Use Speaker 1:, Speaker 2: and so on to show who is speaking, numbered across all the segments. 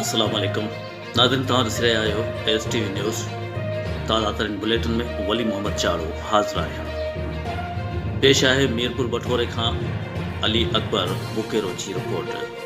Speaker 1: السلام عليڪم ناظرين توهان ڏسي رهيا آهيو ايس ٽي وي نيوز تازا ترين بليٽن ۾ ولي محمد چاڙهو حاضر آهيان پيش آهي ميرپور بٺوري کان علي اڪبر بڪيرو جي رپورٽ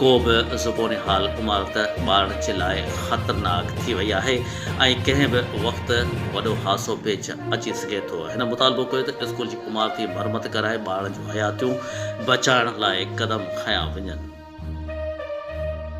Speaker 1: ڪو به زبونهال عمارت ٻارڙچي لاء خطرناڪ ٿي وئي آهي ۽ ڪنهن به وقت وڏو حادثو پيش اچي سگهي ٿو. هن مطالبو ڪيو ته اسڪول جي عمارتي مرمت ڪرائي ٻارڙن جون حياتيون بچائڻ لاء قدم کنيا وڃن.